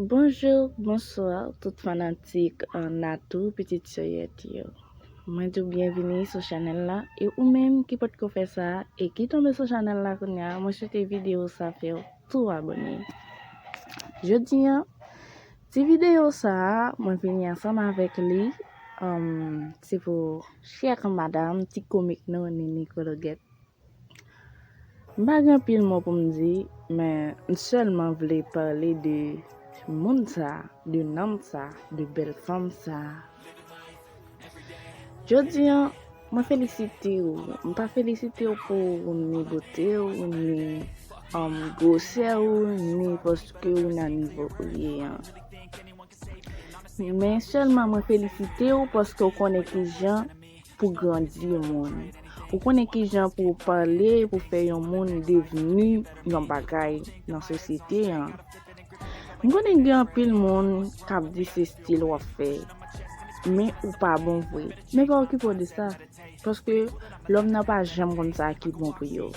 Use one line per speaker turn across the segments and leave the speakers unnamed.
Bonjour bonsoir tout fanatik Natou pitit Soyèt yo mwen di w byenvini sou chanèl la e ou menm ki potko fè sa e ki tonbe sou chanèl la kounya mwen swete videyo sa fè w tou abòne jodi an ti videyo sa mwen vini ansanm avèk li se pou chè kanmad a m ti komik nou Nini Kologèt M pa gen anpil mo pou m di, men m sèlman vle pale de moun sa, de nanm sa, de bèl fanm sa. Jodi an, mwen felisite ou. M pa felisite ou pou ni bote ou, ni gwosè ou, ni paske ou nan nivo ou ye an. Men sèlman mwen felisite ou paske ou konnen ki jan. pou grandi moun. Ou konnen ki jan pou w pale pou fè yon moun devni yon bagay nan sosyete an. M konnen gen anpil moun k ap di se stil w ap fè, men ou pa bon vre. Men pa okipe w de sa, paske lòm nan pa janm konn sa ki bon pou yo.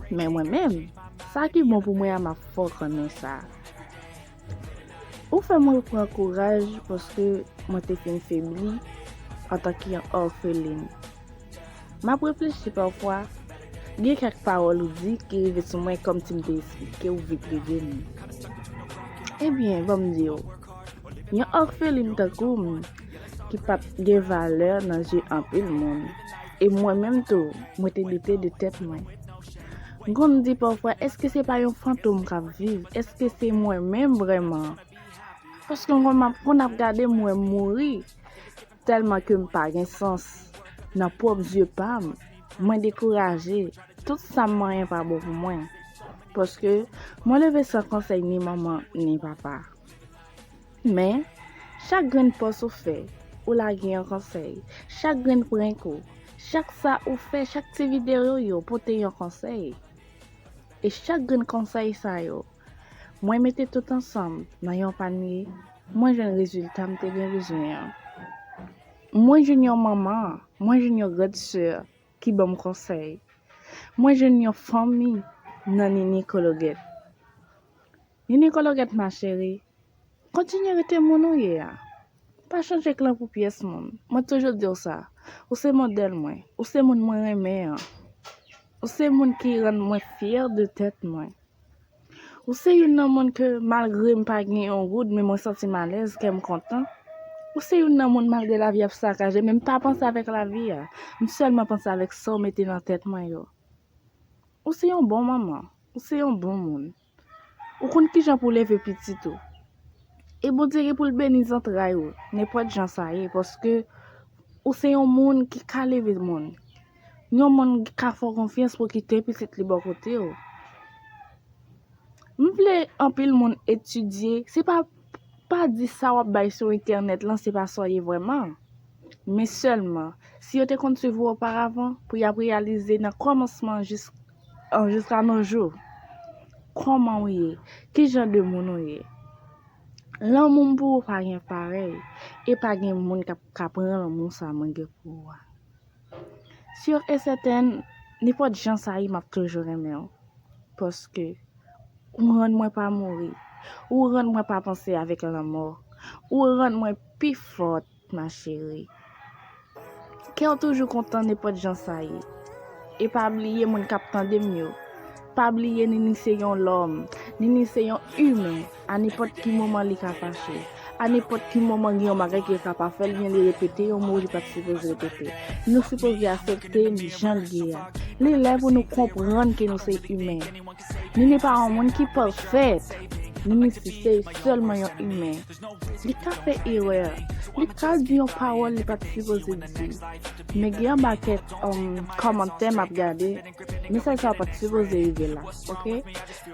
Men mwen menm, sa ki bon pou mwen a m ap fè w konnen sa. Ou fè mwen repran kouraj paske mwen te fin febli antan ki yon òfelin. M ap reflechi pafwa, gen kèk pawòl ou di ki rive sou mwen kòmsi m te esplike ou vitrive m. Ebyen, ban m di ou, yon òfelin tankou m ki pa p gen valè nan je anpil moun, e mwen menm tou mwen te doute de tèt mwen. Gou m di pafwa eske se pa yon fantom kap viv eske se mwen menm vreman paske m konn map konn ap gade m wem mouri telman kem pa gen sans nan pwop zye pam mwen dekouraje tout sam manyen pa bon pou mwen paske mwen leve san konsey ni manman ni papa. Men, chak grenn pòs ou fè, ou lage yon konsèy. Chak grenn prank ou, chak sa ou fè, chak ti videyo ou yo pote yon konsèy. E chak grenn konsèy sa yo, mwen mete tout ansanm nan yon panye, mwen jwenn rezilta m te gen bezwen an. Mwen jwenn yon manman, mwen jwenn yon grand sè ki ban m konsèy. Mwen jwenn yon fanmi nan Ninie Cologèt. Nini kologèt ma chérie kontinye rete moun ou ye a pa chanje klan pou pyès moun mwen toujou diw sa ou se modèl mwen ou se moun mwen renmen an ou se moun ki rann mwen fyè de tèt mwen ou se youn nan moun ke malgre m pa gen yon goud men mwen santi m alèz kèm kontan ou se youn nan moun malgre lavi ap sakaje men m pa panse avèk lavi a m sèlman panse avèk sa w mete nan tèt mwen yo ou se yon bon manman ou se yon bon moun. Ou konn kijan pou leve pitit ou. E Bondye gen pou l beni zantray ou, nenpòt jan sa ye, paske ou se yon moun ki ka leve moun. Yon moun ki ka fè w konfyans pou w kite pitit li bò kote ou. M vle anpil moun etidye, se pa, pa di sa w ap bay sou entènèt lan se pa sa w ye vrèman. Men sèlman, si yo te konn swiv ou oparavan, pou y ap reyalize nan kòmansman jis. An jiska nos jours Koman ou ye Ki jan de moun ou ye Lanmou m pou ou pa gen parèy E pa gen moun kap ka pran lanmou sa mwen gen pou ou a Sur e sèten nenpòt jan sa ye map toujou renmen ou Paske ou rann mwen pa mouri Ou rann mwen pa panse avèk lanmò Ou rann mwen pi fòt ma chérie. Kew toujou kontan nenpot jan sa ye. E pa bliye moun kap tandem yo. Pa bliye Nini se yon lòm. Nini se yon humain. A nenpot ki moman li ka fache. A nenpot ki moman gen yon bagay ke li ka pa fè li byen li repete yon mo li pat sipoze repete. Nou sipoze asepte li janl ye a. Li lè pou nou konprann ke nou se humain. Nini pa yon moun ki pafèt. Nini sise sèlman yon imen. Li ka fè erè. Li ka di yon pawòl li pat sipoze di. Men gen yon pakèt kòmantè map gade. Mesaj sa yo pat sipoze rive la. Ok.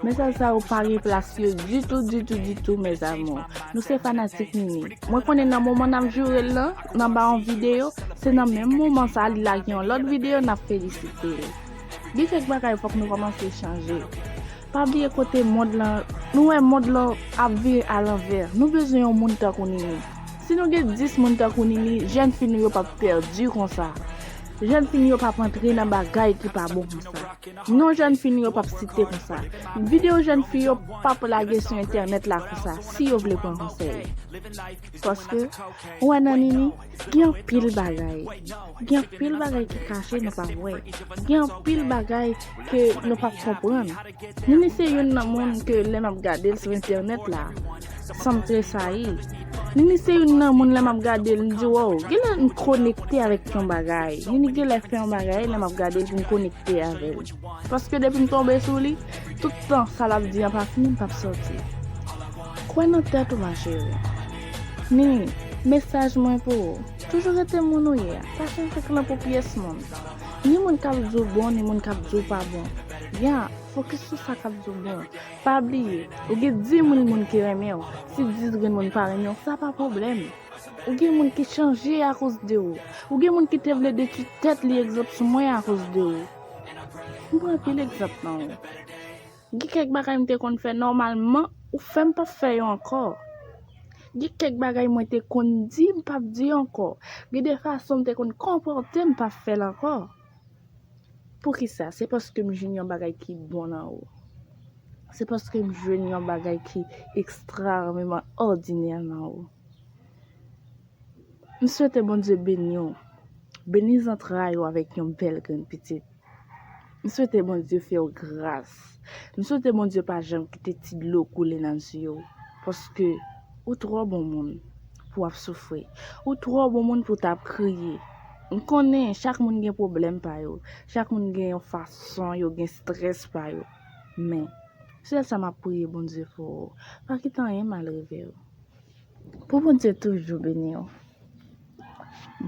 Mesaj sa yo pa gen plas yo ditou ditou ditou mes amours. Nou se fanatik Nini. Mwen konnen nan moman nap joure l lan, nan ba yon videyo, se nan menm moman sa li lage yon lòt videyo nap felisite l. Gen kèk bagay fòk nou kòmanse chanje. Pa bliye kote mond lan, nou wè mond lan ap vire a lanvè. Nou bezwen yon moun tankou Nini. Si nou gen 10 moun tankou Nini, jèn fi nou yo pap pèdi konsa. Jèn fi nou yo pap antre nan bagay ki pa bon konsa. Non jèn fi nou yo pap site konsa. Videyo jèn fi yo pap lage sou entènèt la konsa, si yo vle pran konsèy. Paske, ou wè nan Nini, gen anpil bagay. Gen anpil bagay ki kache nou pa wè. Gen anpil bagay ke nou pap konprann. Nini se youn nan moun ke lè map gadel sou entènèt la, sanm tresayi. Nini se youn nan moun lè map gadel m di wow, genlè m konekte avèk yon bagay. Nini genlè fè yon bagay lè map gadel pou m konekte avèl. Paske depi m tonbe sou li, tout tan sa l ap di an pa fini m p ap sòti. Kwè nan tèt ou ma cheri. Nini, mesaj mwen pou ou, toujou rete moun ou ye a, pa chanje klan pou pyès moun. Ni moun k ap di w bon ni moun k ap di w pa bon. Ya, fokis sou sa k ap di w bon. Pa bliye, ou gen 10 mil moun ki renmen w, si 10 grenn moun pa renmen w sa pa pwoblèm. Ou gen moun ki chanje akoz de ou. Ou gen moun ki te vle detwi tèt li egzanp sou mwen akoz de ou. M pran anpil egzanp nan ou. Gen kèk bagay m te konn fè nòmalman, ou fè m pap fè yo ankò. Gen kèk bagay mwen te konn di m pap di ankò. Gen de fason m te konn konpòte m pap fè l ankò. Poukisa? Se paske m jwenn yon bagay ki bon nan ou. Se paske m jwenn yon bagay ki ekstraòmeman òdinè nan ou. M swete Bondye beni w, beni zantray ou avèk yon bèl grenn pitit. M swete Bondye fè w gras. M swete Bondye pa janm kite ti dlo koule nan zye w, paske ou twò bon moun pou w ap soufri. Ou twò bon moun pou w ta ap kriye. M konnen chak moun gen pwoblèm pa yo, chak moun gen yon fason yo gen strès pa yo. Men, sèl sa m ap priye Bondye pou ou, pa kite anyen mal rive w. Pou Bondye toujou beni w.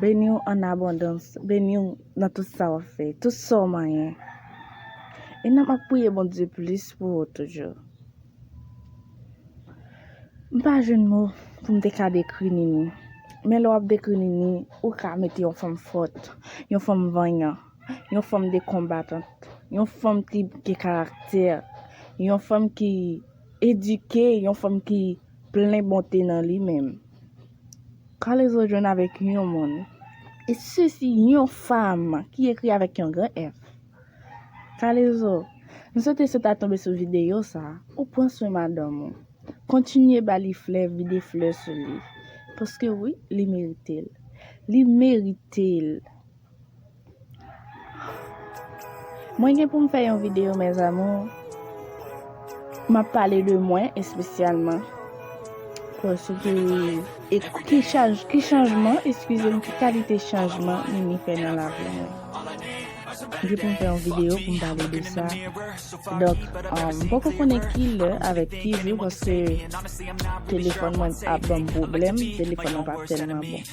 Beni w an abondans. Beni w nan tout sa wap fè. Tout sa w manyen. E nan map priye Bondye plis pou ou toujou. M pa jwenn mo pou m te ka dekri Nini. Men lè wap dekri Nini, ou ka mete yon fanm fòt. Yon fanm vanyan. Yon fanm de konbatant. Yon fanm ki gen karaktè. Yon fanm ki edike. Yon fanm ki Plen bonte nan li menm. Kalezo jwenn avèk yon moun. E sesi yon fam ki ekri avèk yon gran F. Kalezo, m swete se ta tonbe sou videyo sa, ou pran swen madanm ou. Kontinye ba li flè, vide flè sou li. Paske wi, li merite l. Li merite l. Mwen gen pou m fè yon videyo mes amours M ap pale de mwen espesyalman Paske e ki chaj ki chanjman eskize m ki kalite chanjman Nini fè nan lavi mwen M gen pou m fè yon videyo pou m pale de sa Donk m poko konnen ki lè avèk ki jou paske telefòn mwen ap ban m pwoblèm Telefòn nan pa tèlman bon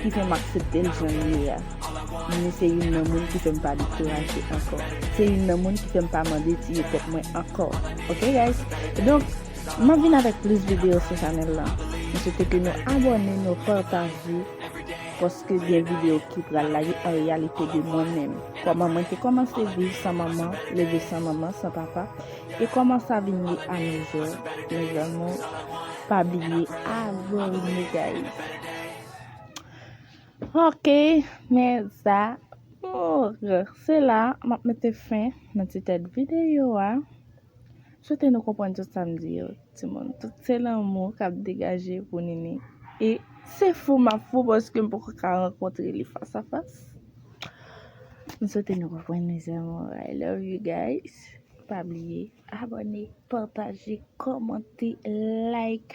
ki fè m aksepte l jan l ye a. Men se youn nan moun ki fè m pa dekouraje ankò. Se youn nan moun ki fè m pa mande tiye tèt mwen ankò. Ok guys? Donk, m ap vin avèk plis videyo sou chanèl lan. M swete ke nou abòne, nou pataje, paske gen videyo ki pral la yo an reyalite de mwen menm. Kòman mwen te kòmanse viv san manman, leve san manman, san papa. E koman sa vin ye a nou jou mes amours pa bliye abonne guys. Ok mes amours se la map mete fen nan ti tèt video a. Swete nou konprann tout sa m di yo ti moun. Tout se lanmou kap degaje pou Nini. E se fou map fou paske m poko ka rankontre li fas a fas. M swete nou konprann mes amours I love you guys. Pa bliye abone, pataje, komante, like.